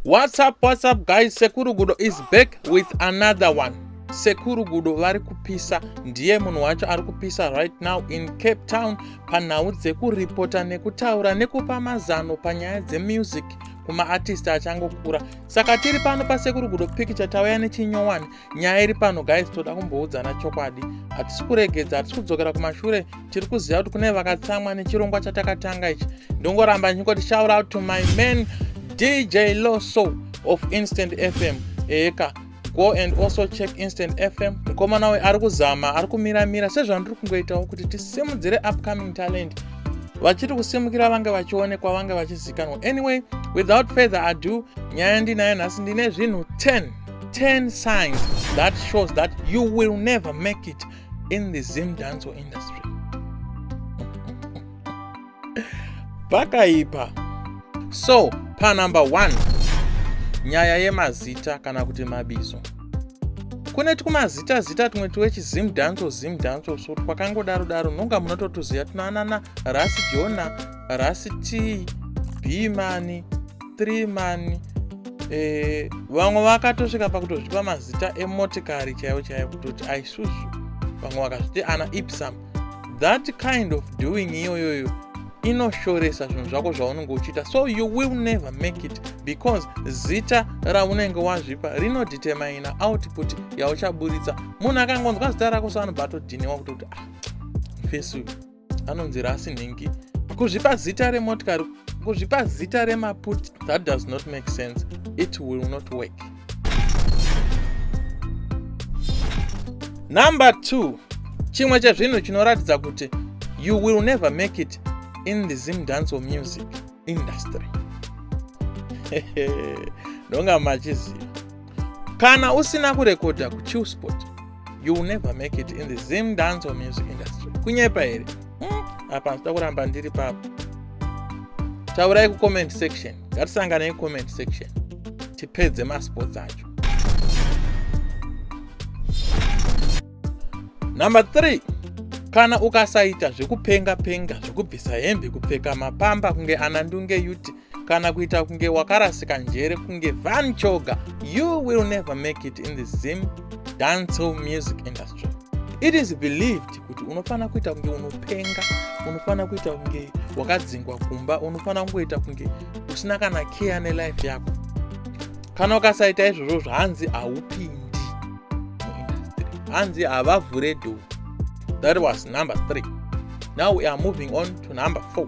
What's up, what's up guys, Sekuru Gudo is back with another one. Sekuru Gudo vari kupisa, ndiye munhu wacho ari kupisa right now in Cape Town panhau dzekuripota nekutaura nekupa mazano panyaya dzemusic kumaartist achangokura. Saka tiri pano paSekuru Gudo Picture tauya nechinyowani nyaya iri pano guys toda kumboudzana chokwadi hatisi kuregedza hatisi kudzokera kumashure tiri kuziva kuti kune vakatsamwa nechirongwa chatakatanga ichi ndongoramba ndichingoti shout out to my man dj loso of instant fm eka go and also check instant fm mukomana uyu ari kuzama ari kumiramira sezvandiri kungoitawo kuti tisimudzire upcoming talent vachiri kusimukira vange vachionekwa vange vachizikanwa anyway without further ado nyaya ndinayo nhasi ndine zvinhu 10 10 signs that shows that you will never make it in the Zim dancehall industry. Pakaipa. So, pa number 1 nyaya yemazita kana kuti mabizo. Kune twumazita zita tumwe twechizim dancehall zim dancehall so twakangodaro daro nonga munototuziva tunoanana Rasi Jona, Rasi T, Bimani, 3 mani eh, vamwe vakatosvika pakutozvipa mazita emotikari chaivo chaivo kutoti aisusu vamwe vakazviti ana ipsam that kind of doing iyoyoyo inoshoresa zvinhu zvako zvaunenge uchiita so you will never make it because zita raunenge wazvipa rinodetermina output yauchaburitsa munhu akangonzwa zita rako so anobva atodhiniwa kutoti ah fesi uyu anonzi rasi nhingi kuzvipa zita remotikari kuzvipa zita remaput that does not make sense it will not work number two chimwe chezvinhu chinoratidza kuti you will never make it in the zim dance or music industry ndonga machiziva kana usina kurekodha kuchillsport you will never make it in the zim dancer music industry kunyepa here hmm, apa ndida kuramba ndiri papo taurai kucomment section ngatisanganei comment section tipedze masports acho number 3 kana ukasaita zvekupenga penga zvekubvisa hembe kupfeka mapamba kunge anandunge yuti kana kuita kunge wakarasika njere kunge van choga you will never make it in the zim dancehall music industry it is believed kuti unofanira kuita kunge unopenga unofanira kuita kunge wakadzingwa kumba unofanira kungoita kunge usina kana care nelife yako kana ukasaita izvozvo zvahanzi haupindi hanzi havavhure do that was number three now we are moving on to number four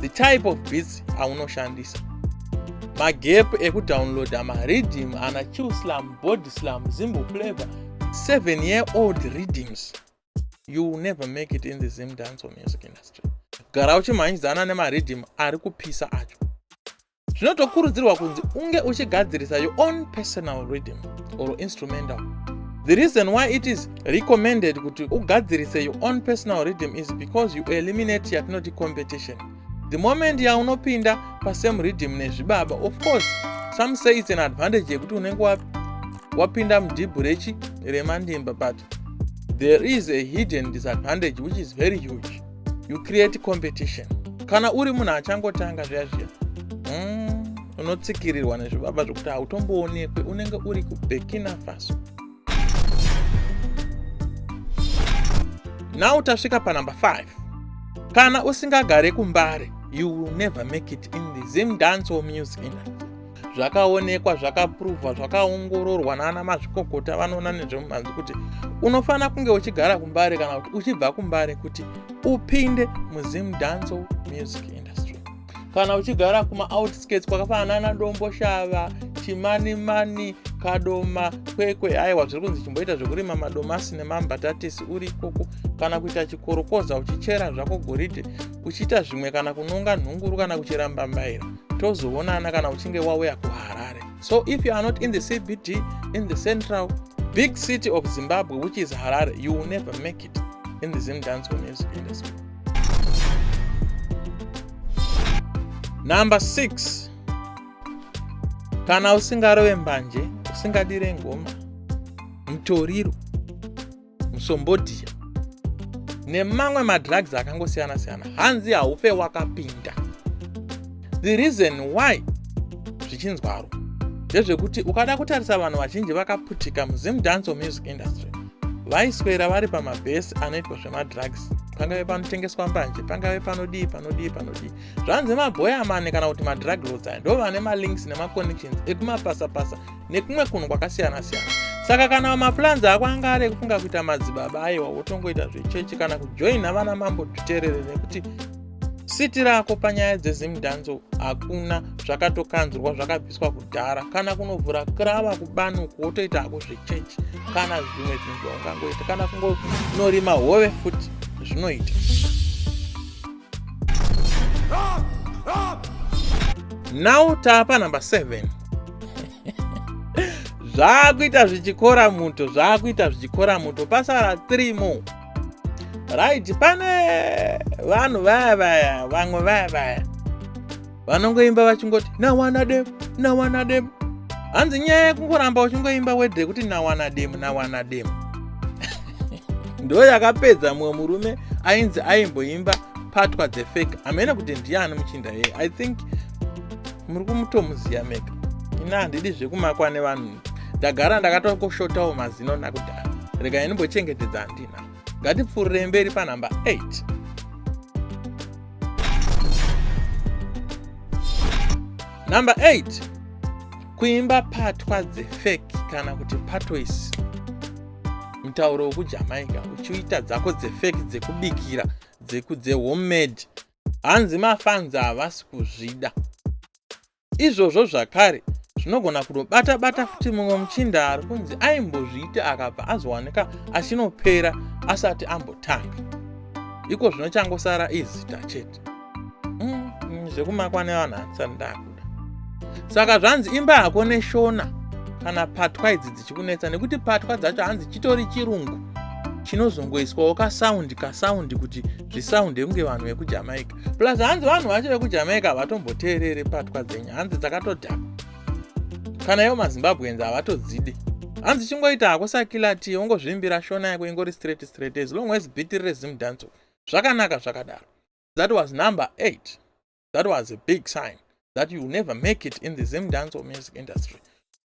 the type of beats aunoshandisa magap ekudownloada maredim ana chillslam body slam zimbo flavor 7 year old redeems you will never make it in the zim dance or music industry gara uchimhanyidzana nemaredim ari kupisa acho zvinotokurudzirwa kunzi unge uchigadzirisa your own personal rhythm or instrumental the reason why it is recommended kuti ugadzirise your own personal rhythm is because you eliminate yatinoti competition the moment yaunopinda pasame rhythm nezvibaba of course some say its an advantage yekuti unenge wapinda mudhibhu rechi remandimba but there is a hidden disadvantage which is very huge you create competition kana uri munhu achangotanga zviya zviya mm, unotsikirirwa nezvibaba zvokuti hautomboonekwe unenge uri kubekina faso now tasvika panumber 5 kana usingagare kumbare you will never make it in the zim dance or music industry zvakaonekwa zvakapuruvhwa zvakaongororwa naana mazvikokota vanoona nezvemumhanzi kuti unofanira kunge uchigara kumbare kana kuti uchibva kumbare kuti upinde muzim danco music industry kana uchigara kumaoutskirts kwakafanana nadombo shava chimanimani kadoma kwekwe aiwa zviri kunzi chimboita zvekurima madomasi nemambatatisi uri ikoko kana kuita chikorokoza uchichera zvako goridhe uchiita zvimwe kana kunonga nhunguru kana kuchera mbambaira tozoonana kana uchinge wauya kuharare so if you are not in the cbt in the central big city of zimbabwe which is harare you will never make it in the zim dance music industry number 6 kana usingarove mbanje usingadire ngoma mutoriro musombodhiya nemamwe madrugs akangosiyana siyana hanzi haufe wakapinda the reason why zvichinzwaro ndezvekuti ukada kutarisa vanhu vazhinji vakaputika muzim dance music industry vaiswera vari pamabhesi anoitwa zvemadrugs pangave panotengeswa mbanje pangave panodii panodii panodii zvanzi mabhoyamani kana kuti madrug lots aya ndo vane malinks nemaconnections ekumapasapasa nekumwe kunhu kwakasiyana siyana saka kana maplans ako anga ari ekufunga kuita madzibaba aiwa wotongoita zvechechi kana kujoina vana mambo tuterere nekuti siti rako panyaya dzezimdhanzo hakuna zvakatokanzurwa zvakabviswa kudhara kana kunovhura krava kubanuku wotoita hako zvechechi kana zvimwe zvinhu zvaungangoita kana kungonorima hove futi zvinoita now tapa number 7 zvaakuita zvichikora muto zvaakuita zvichikora muto pasara 3 more right pane vanhu vaya vaya vamwe vaya vaya vanongoimba vachingoti nawana dem nawana dem hanzi nyaya yekungoramba uchingoimba wedhe kuti nawana dem nawana dem ndo yakapedza mumwe murume ainzi aimboimba patwa the fake hamene kuti ndiani muchinda yeye i think muri kumutomuziya mega ini handidi zvekumakwa nevanhu ndagara ndakatokoshotawo mazino nakudhara rega ini mbochengetedza handina ngatipfuurire mberi panhamba 8 number 8 kuimba patwa dzefeki kana kuti patoisi mutauro wekujamaica uchiita dzako dzefeki dzekubikira dzekudzehomemade hanzi mafanzi havasi kuzvida Izvozvo zvakare zvinogona kunobata bata futi mumwe muchinda ari kunzi aimbozviita akabva azowanika achinopera asati ambotanga iko zvino changosara izita chete mm, mm, zvekumakwa nevanhu hatisati ndakuda saka zvanzi imba hako neshona kana patwa idzi dzichikunetsa nekuti patwa dzacho hanzi chitori chirungu chinozongoiswawo kasaundi kasaundi kuti zvisaunde kunge vanhu vekujamaica plus hanzi vanhu vacho vekujamaica havatomboteereri patwa dzenyu hanzi dzakatodhaka kana ivo mazimbabweans havatodzidi hanzi chingoita hako sakilati ungozvimbira shona yako ingori straight straight as long as biti rire zimdanco zvakanaka zvakadaro that was number eight that was a big sign that you never make it in the zimdanco music industry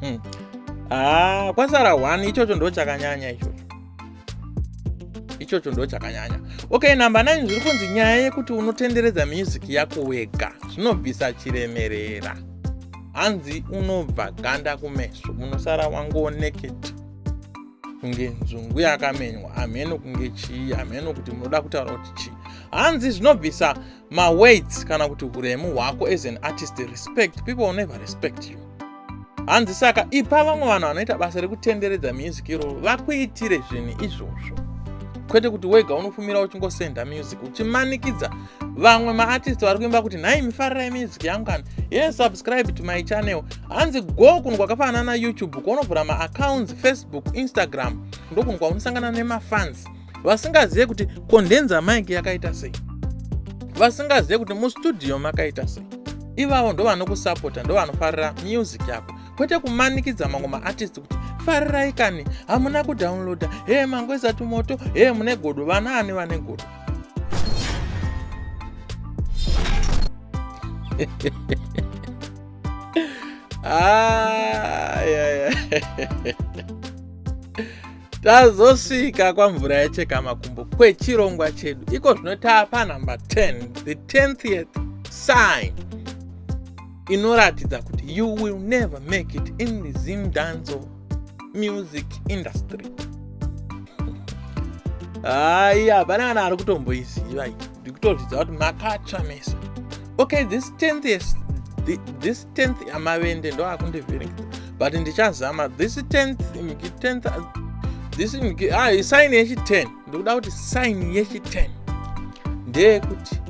hmm. ah, kwasara one ichocho ndo chakanyanya ichocho ichocho ndo chakanyanya okay number 9 zviri kunzi nyaya yekuti unotenderedza music yako wega zvinobvisa chiremerera hanzi unobva ganda kumeso unosara wangooneketi kunge nzungu yakamenywa hameno kunge chii hameno kuti munoda kutaura kuti chii hanzi zvinobvisa maweights kana kuti uremu hwako as an artist respect people will never respect you hanzi saka ipa vamwe vanhu vanoita basa rekutenderedza music iroro vakuitire zvinhu izvozvo kwete kuti wega unofumira uchingosenda music uchimanikidza vamwe maartist vari kuimba kuti nhai mifarirai music yangu kana ye subscribe to my channel hanzi go kunhu kwakafanana na youtube kuonovhura maaccounts facebook instagram ndokunhu kwaunosangana nemafans vasingazive kuti condenser mike yakaita sei vasingazive kuti mustudio makaita sei ivavo ndovanokusapota ndovanofarira music yako kwete kumanikidza mamwe maartist kuti farirai kani hamuna kudownloada hee mangweza tumoto hee mune godo vana ani vane godo ah, yeah, yeah. tazosvika kwamvura yacheka makumbo kwechirongwa chedu iko zvino taapa number 10 the 10th sign inoratidza kuti you will never make it in the zim danzo music industry hayi hapana kana ari kutomboiziva iyi ndikutozvidza kuti makatsva mese okay this 10th this 10th yamavende ndo akundivhiringidza but ndichazama this 10th 10th this ah, sign yechi 10 ndikuda kuti sign yechi 10 ndeyekuti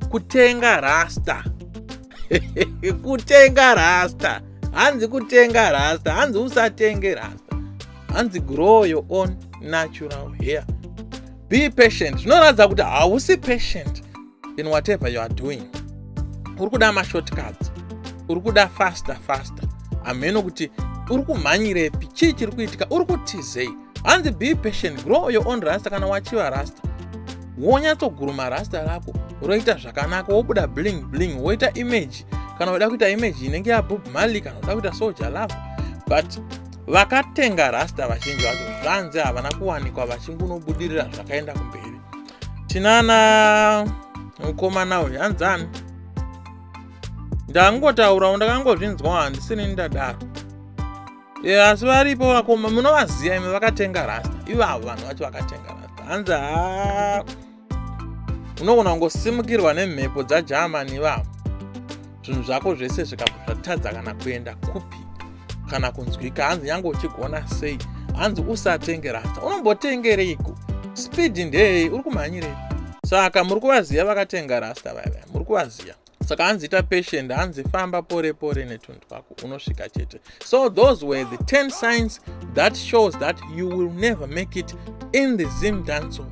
kutenga rasta kutenga rasta hanzi kutenga rasta hanzi usatenge rasta hanzi grow your own natural hair be patient zvinoratidza kuti hausi patient in whatever you are doing uri kuda mashortcuts uri kuda faster faster hameno kuti uri kumhanyirepi chii chiri kuitika uri kutizei hanzi be patient grow your own rasta kana wachiva rasta wonyatsoguruma rasta rako roita zvakanaka wobuda bling bling woita image kana uda kuita image inenge yabob mali kana uda kuita soja lavo but vakatenga rasta vazhinji vacho zvanzi havana kuwanikwa vachingunobudirira zvakaenda kumberi tinana mukomana uyu hanzani ndangotaurawo ndakangozvinzwa handisini ndadaro e, asi varipo vakoma munovaziva imi vakatenga rasta ivavo vanhu vacho vakatenga rasta hanzi ha unogona kungosimukirwa nemhepo dzagermany ivavo zvinhu zvako zvese zvikabva zvatadza kana kuenda kupi kana kunzwika hanzi nyange uchigona sei hanzi usatenge rasta unombotengereiko speed ndeyei uri kumhanyirei saka muri kuvaziva vakatenga rasta vaiva muri kuvaziva saka hanzi ita patient hanzi famba pore pore netunhu twako unosvika chete so those were the 10 signs that shows that you will never make it in the zim dancehall